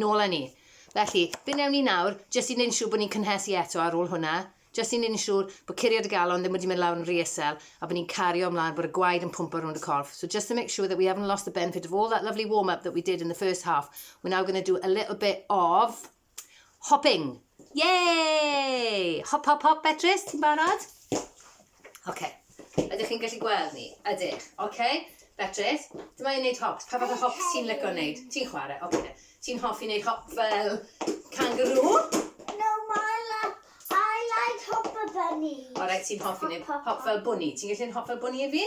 Nôl â ni. Felly, be wnewn ni nawr, jyst i wneud yn siŵr bod ni'n cynhesu eto ar ôl hwnna, jyst i wneud yn siŵr bod curiad y galon ddim wedi mynd lawr yn rîysel a bod ni'n cario ymlaen, bod y gwaed yn pwmpo rownd y corff. So just to make sure that we haven't lost the benefit of all that lovely warm-up that we did in the first half, we're now going to do a little bit of hopping. Yay! Hop, hop, hop, Beatrice, ti'n barod? Oce. Ydych chi'n gallu gweld ni? Ydych. Oce. Beatrice, dyma i'n neud hops. Pa fath o hops ti'n lico neud? Ti'n chwarae? Oce. Ti'n hoffi neud hop fel kangaroo? No, I like, I like hopper bunny. Alright, ti'n hoffi neud hop fel bwni. Ti'n gallu neud hop fel bwni i fi?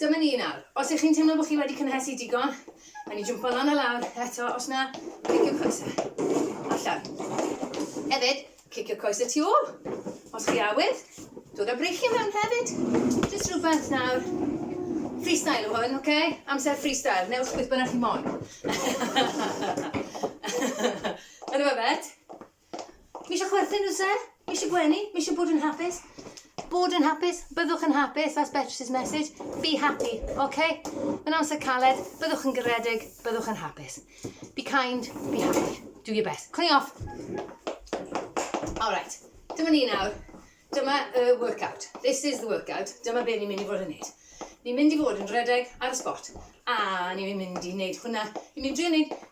Dyma ni nawr. Os ych chi'n teimlo bod chi wedi cynhesu digon, rhaid ni jwmpo lan a lawr eto, os na, cliciwch coesau. Allan. Hefyd, cliciwch coesau tu ôl. Os chi awydd, dod â breichiau mewn hefyd. Just rhywbeth nawr. Freestyle yw hwn, oce? Okay? Amser freestyle. Newch beth bynnag chi moyn. Yn y fe, Bet? Mi eisiau chwerthin nhw, sir? Mi eisiau gwenu? Mi eisiau bod yn hapus? Bod yn hapus? Byddwch yn hapus? That's Beatrice's message. Be happy, okay? Mae'n amser caled, byddwch yn garedig, byddwch yn hapus. Be kind, be happy. Do your best. Clean off. Alright, dyma ni nawr. Dyma y workout. This is the workout. Dyma be ni'n mynd i fod yn neud. Ni'n mynd i fod yn redeg ar y spot. A ni'n mynd i neud hwnna. Ni'n mynd i drio neud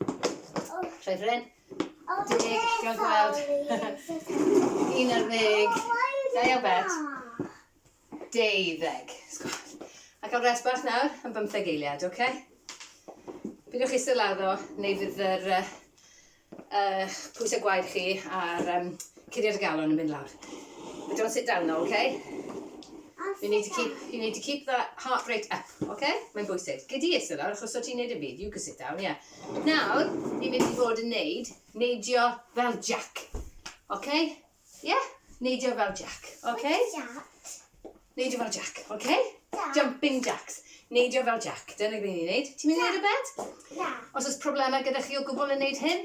Troi fy ryn. Deg, gael gweld. Un ar ddeg. Da iawn, Bet. Deuddeg. A cael rest bach nawr am bymtheg eiliad, oce? Bydwch chi sy'n laddo, neu fydd yr, uh, pwysau gwaed chi a'r um, Curiad y galon yn mynd lawr. But don't sit down though, okay? You need to keep, you need to keep that heart rate up, okay? Mae'n bwysig. Gyd i eistedd lawr, achos o ti'n neud yn byd. You can sit down, yeah. Nawr, ni'n mynd i fod yn neud, neidio fel Jack. Okay? Yeah? Neidio fel Jack, okay? Neidio fel Jack, okay? Jumping Jacks. Neidio fel Jack. Dyna beth ni'n neud. Ti'n mynd i neud y bed? Na. Os oes problemau gyda chi o gwbl yn neud hyn,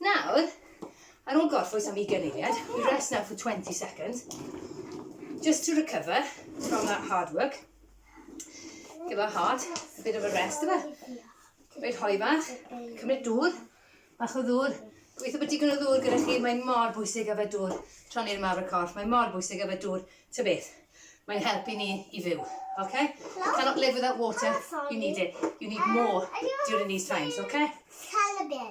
Nawr, ar ôl gorffwys am ugain eiliad, we rest now for 20 seconds, just to recover from that hard work. Give our heart a bit of a rest, yma. Rhaid hoi bach, cymryd dŵr, bach o ddŵr. Gweithio bod digon o ddŵr gyda chi, mae'n mor bwysig a fe dŵr. Tron i'r mawr y corff, mae'n mor bwysig a fe dŵr. Ta beth, mae'n helpu ni i fyw. Okay? You cannot live without water. You need it. You need more during these times, okay? Calabil.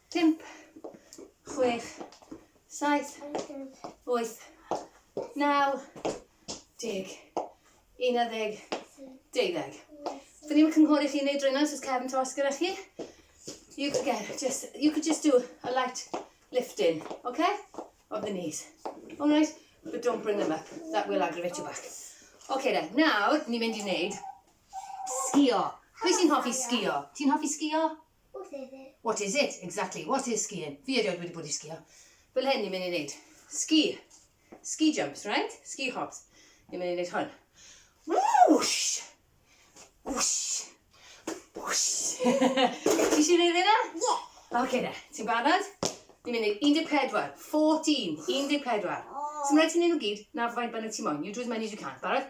Pump, chwech, saith, wyth, naw, deg, unarddeg, deuddeg. Dyn ni'n cynghori chi wneud drwy'n os oes cefn tos gyda chi. You could, get, just, you could just do a light lifting, okay? Of the knees. Alright? But don't bring them up. That will aggravate your back. Okay then, nawr, ni'n mynd i wneud sgio. Pwy sy'n hoffi sgio? Ti'n hoffi sgio? What is it? What is it? Exactly. What is skiing? Fi erioed wedi bod i sgio. Fel hyn ni'n mynd i wneud. Ski. Ski jumps, right? Ski hops. Ni'n mynd i wneud hwn. Whoosh! Whoosh! Whoosh! Ti eisiau gwneud hynna? Ie. Oce de, ti'n barod? Ni'n mynd i 14, 14, 14. Symryd ti'n ei nhw gyd, na faint bynnag ti moyn. You do as many as you can. Barod?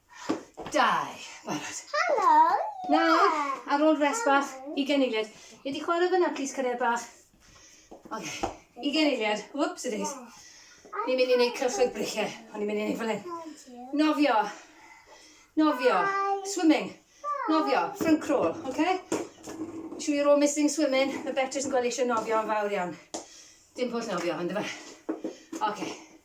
Dau. Barod. Helo! Nawr, ar ôl rest bach, i geneiliad. Ie di chwarae fyna, plis cariad bach. Oce, i geneiliad. Whoops it is. Ni'n mynd i wneud cylchoedd briche. O'n i'n mynd i wneud fel hyn. Nofio. Nofio. Swimming. Nofio. Front crawl, oce? Okay? Siw you're all missing swimming. Mae Beatrice yn gweld eisiau nofio yn fawr iawn. Dim pwll nofio, ond yma. Oce. Okay.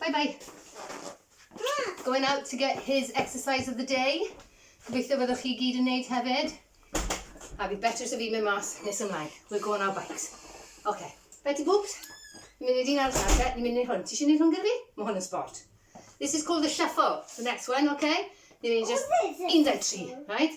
Bye bye. Going out to get his exercise of the day. Gobeithio fyddwch chi gyd yn neud hefyd. A fi better so fi mynd mas nes ymlaen. We'll go on our bikes. OK. Betty Boobs, ni'n mynd i dyn arall nawr te, ni'n mynd i hwn. Ti eisiau neud hwn gyda fi? Mae hwn yn sport. This is called the shuffle, the next one, OK? Ni'n mynd i just... 13, right?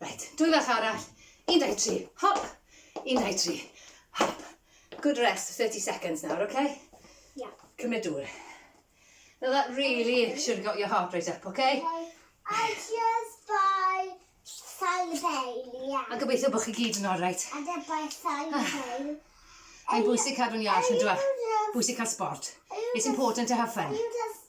Right, dwy fach arall. 13, hop, 13, hop. Good rest, 30 seconds nawr, oce? Okay? Yeah. Cymryd dŵr. Now that really should have got your heart rate up, okay? okay. I just buy Sally Bale, yeah. A gobeithio bod chi gyd yn oreit. I just buy Sally ah. Bale. Mae'n bwysig cadw'n iach yn dweud. Bwysig cael sport. It's important to have fun. Are you just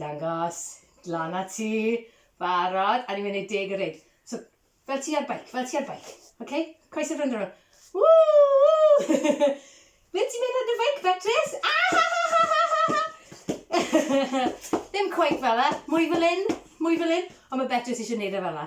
Dangos, lan a ti, barod, a ni'n mynd i deg y ryd. So, fel ti ar bike, fel ti ar bike. OK? Croes y ffrind rhywun. Woo, woo! Ble ti'n mynd ar dy feic, Betris? Ah, ha, ha, ha, ha, ha, ha! Ddim cweit fel e, mwy fel un, mwy fel un. Ond mae Betris eisiau gwneud e fel e.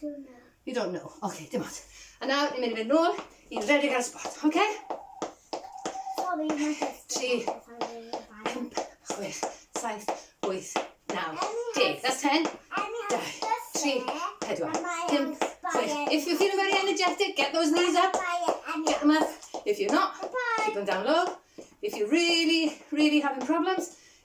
Don't know. You don't know. Oce, okay, dim ond. A nawr, ni'n mynd i fynd nôl i'n rhedeg ar y spot, oce? Okay? Sorry, mae'n just... Tri, pump, chwech, saith, wyth, naw, deg. That's ten. Dau, tri, pedwar, dim, chwech. If you're feeling very energetic, get those knees up. Get them up. If you're not, keep them down low. If you're really, really having problems,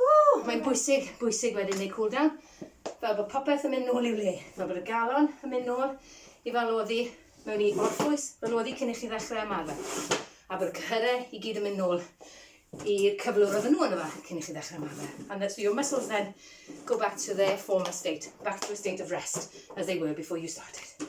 Ww! Mae'n bwysig, bwysig wedyn neu cool down, fel bod popeth yn mynd nôl i'w le, fel bod y galon yn mynd nôl i fel oddi mewn i orffwys, fel oddi cyn i chi ddechrau ymarfer. A bod y cyhyrau i gyd yn mynd nôl i'r cyflwr oedd nhw yna fe cyn i chi ddechrau ymarfer. And that so your muscles then go back to their former state, back to a state of rest as they were before you started.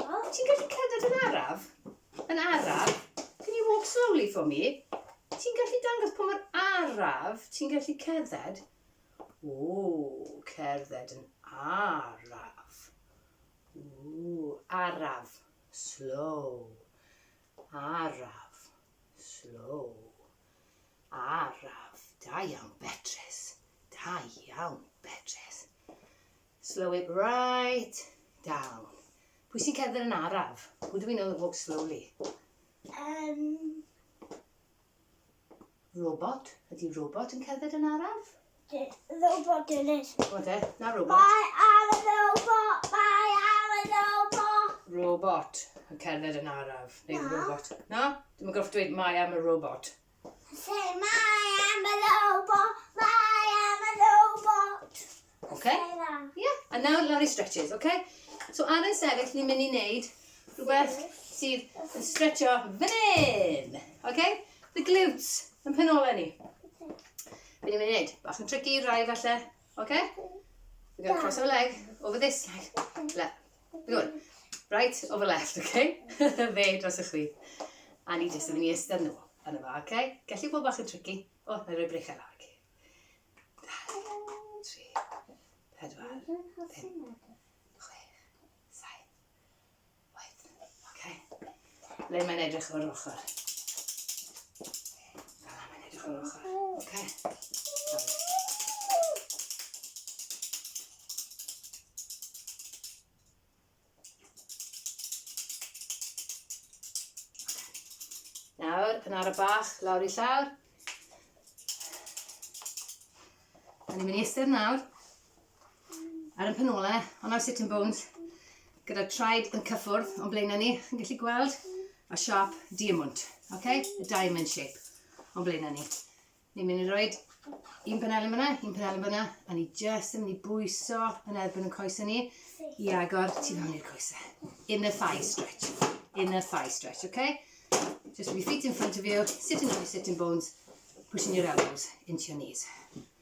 Wel, ti'n gallu cerdded yn araf? Yn araf? Can you walk slowly for me? Ti'n gallu dangos pa mor araf ti'n gallu cerdded? Ww, cerdded yn araf. Ww, araf, slow. Araf, slow. Araf, da iawn Beatrice. Da iawn Beatrice. Slow it right down. Pwy sy'n cerdded yn araf? Who do we know that walks slowly? Um... Robot. Ydy robot yn cerdded yn araf? Robot yn it. What e? Na robot. Mae ar y robot. Mae ar y robot. Robot yn cerdded yn araf. Neu robot. Na? Dwi'n gorfod dweud mae am y robot. Lle mae am y robot, mae am y robot. Okay? Yeah. A nawr lawr i stretches, okay? So ar yn sefyll, ni'n mynd i wneud rhywbeth sydd yn stretcho fan hyn. Okay? The glutes, yn penolau ni. Be ni'n mynd i wneud? Bach yn tricky, rai falle. Okay? We're going to cross our leg over this leg. Le. Good. Right, o fy left, oce? Okay? Fe dros y chwith. A ni jyst yn mynd i ystod nhw yn y fa, oce? Okay? Gellu bod bach yn tricky. O, na i roi brechau lawr, oce? Tri, pedwar, pum, chwech, saith, oed. Oce? Le mae'n edrych o'r ochr. Fel mae'n edrych o'r ochr. Oce. Nawr, yn ar y bach, lawr i llawr. Da ni'n mynd i eistedd nawr. ar y penolau, ond am sitting bones, gyda'r traed yn cyffwrdd o'n blaenau ni, chi'n gallu gweld y siap diamwnt, okay? y diamond shape o'n blaenau ni. Ni'n mynd i roi un penel yn fyna, un penel yn fyna, a ni jyst yn mynd i bwyso yn erbyn y coesau ni i agor tu fewn i'r coesau. In the thigh stretch. In the thigh stretch, okay? Just with your feet in front of you, sitting on your sitting bones, pushing your elbows into your knees.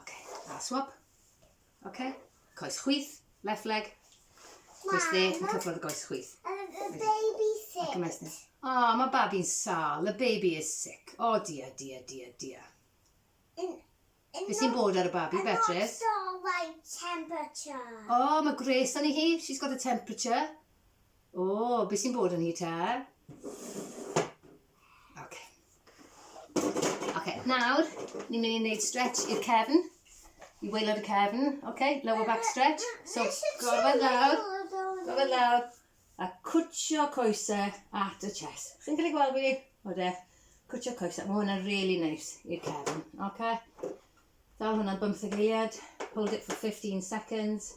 Ok, a swab. Ok, coes chwith, left leg. Coes dde, yn cyfrodd y goes chwith. Ac yma ysnes. O, mae babi'n sal. The baby is sick. O, dia, dia, dia, dia. Beth sy'n bod ar y babi, Beatrice? O, mae gwres yn hi. She's got a temperature. O, beth sy'n bod yn hi te? Ok. Ok, nawr, ni'n mynd i wneud stretch i'r cefn, i waelod y cefn, ok, lower back stretch. So, gorfod lawr, gorfod lawr, a cwtio coesau at y chest. Chi'n cael ei gweld fi? O de, cwtio coesau. Mae hwnna'n really nice i'r cefn, ok? Dal hwnna'n bymtheg eiliad, hold it for 15 seconds.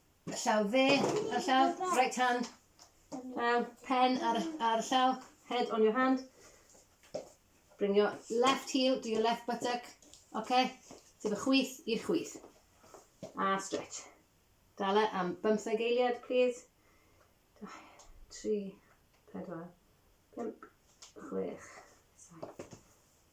Y llaw dde, y llaw, right hand. Um, pen ar, ar y llaw, head on your hand. Bring your left heel to your left buttock. Okay? Sef y chwyth i'r chwyth. A stretch. Dala am bymtheg eiliad, please. 2, 3, 4, 5, 6, 7.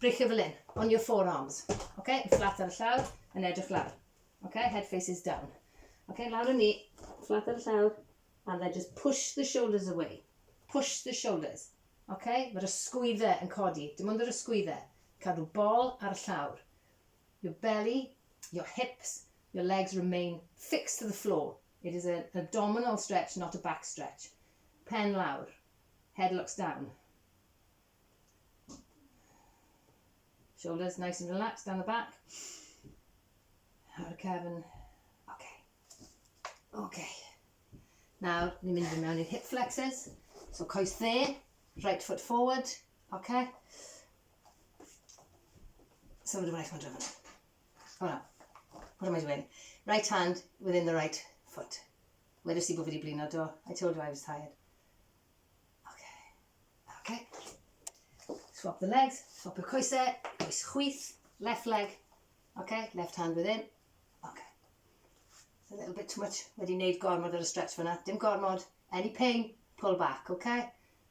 Brichio fel hyn, on your forearms. Okay? Yn fflat ar y llawr, yn edrych lawr. Okay? Head faces down. Okay? Lawr yn ni, fflat ar y llawr, and then just push the shoulders away. Push the shoulders. Okay? Mae'r ysgwyddau yn codi. Dim ond yr ysgwyddau. Cadw bol ar y llawr. Your belly, your hips, your legs remain fixed to the floor. It is an abdominal stretch, not a back stretch. Pen lawr. Head looks down. Shoulders nice and relaxed down the back. A'r cefn. Ok. Ok. Nawr, ni'n mynd i mewn i'r hip flexes. So coes dde, right foot forward. Ok. So mae'n rhaid mae'n drefn. O na. What am I doing? Right hand within the right foot. Wedys i bod fi wedi blino do. I told you I was tired. Oce. Oce. Swap the legs, swap y coesau, coes chwith, left leg. Oce, left hand within. Oce. It's a little bit too much. Wedi wneud gormod ar y stretch fyna. Dim gormod. Any pain, pull back, oce?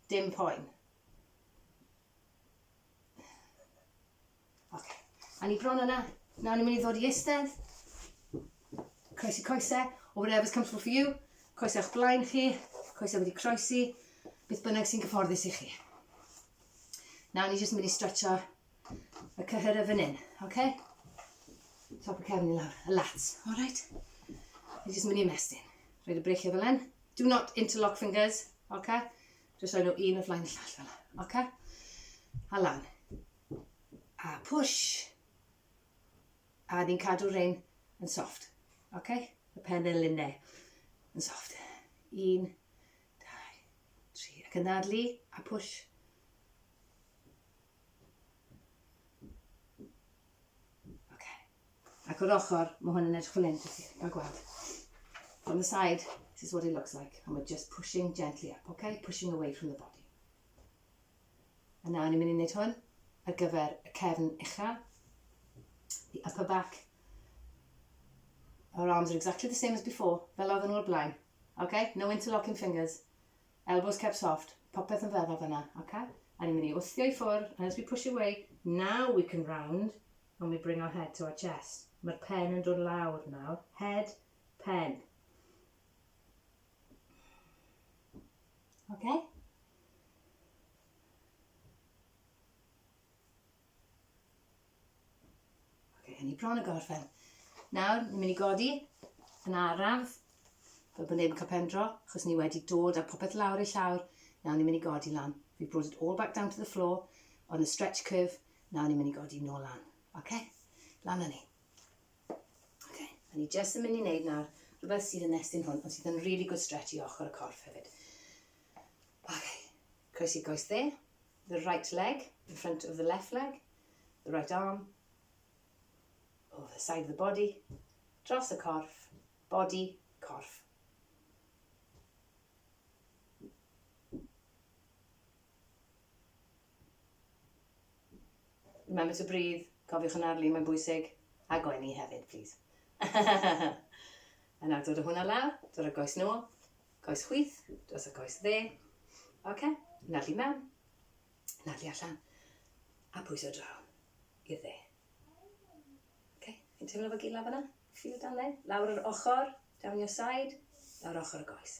Dim poen. Ok. A ni bron yna. Nawr ni'n mynd i ddod i eistedd. Croesi coesau, or whatever's comfortable for you. Coesau o'ch blaen chi, coesau wedi croesi, beth bynnag sy'n gyfforddus i chi. Nawr ni jyst yn mynd i stretcho y cyhyr y fan hyn, oce? Okay? Top y cefn i lawr, y lats, alright? Ni jyst yn mynd i ymestyn. Rhaid y breichiau fel hyn. Do not interlock fingers, oce? Okay? Just rhoi nhw un o flaen y llall fel hyn, oce? Okay? A lan. a push, a ni'n cadw rhein yn soft, ok? Y pennelinau yn soft. Un, dau, tri, ac yn ddadlu, a push. Ok. Ac o'r ochr, mae hwn yn edrych fel hyn, fel gweld. From the side, this is what it looks like, and we're just pushing gently up, ok? Pushing away from the body. A nawr ni'n mynd i wneud hwn ar gyfer y cefn uchel. The upper back. Our arms are exactly the same as before, fel oedden nhw o'r blaen. OK? No interlocking fingers. Elbows kept soft. Popeth yn feddal fyna. OK? A ni'n mynd i wthio i ffwrdd, and as we push away, now we can round, and we bring our head to our chest. Mae'r pen yn dod lawr nawr. Head, pen. Oce? Oce, hynny bron y gorffen. Nawr, ni'n mynd i godi yn araf, fel bod neb yn cael pendro, achos ni wedi dod a popeth lawr ei llawr. Nawr ni'n mynd i godi lan. We brought it all back down to the floor on a stretch curve. Nawr ni'n mynd i godi nôl lan. Oce? Lan â ni. Okay, a ni jyst yn mynd i wneud nawr rhywbeth sydd yn nestyn hwn, ond sydd yn really good stretch i ochr y corff hefyd. Okay, croesi goes dde, the right leg in front of the left leg, the right arm, over the side of the body, dros y corff, body, corff. Remember to breathe, cofiwch yn arlun, mae'n bwysig, a gwenu hefyd, plîs. a nawr dod o hwnna lawr, dod o goes nôl, coes chwith, dros y coes dde. OK, nadlu mewn, nadlu allan, a pwyso draw i'r dde. OK, chi'n teimlo fo gila fyna? Feel down there? Lawr yr ochr, down your side, lawr ochr y goes.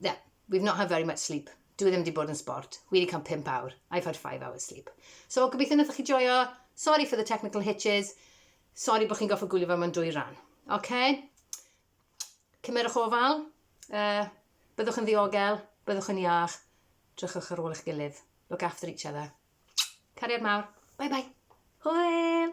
Yeah, we've not had very much sleep. Dwi ddim wedi bod yn sport. Wi wedi cael 5 awr. I've had 5 hours sleep. So, gobeithio wnaethoch chi joio. Sorry for the technical hitches. Sorry bod chi'n goffa gwylio fe mewn dwy ran. OK? Cymerwch ofal. Uh, byddwch yn ddiogel. Byddwch yn iach. Drychwch ar ôl eich gilydd. Look after each other. Cariad mawr. Bye bye. Hwyl!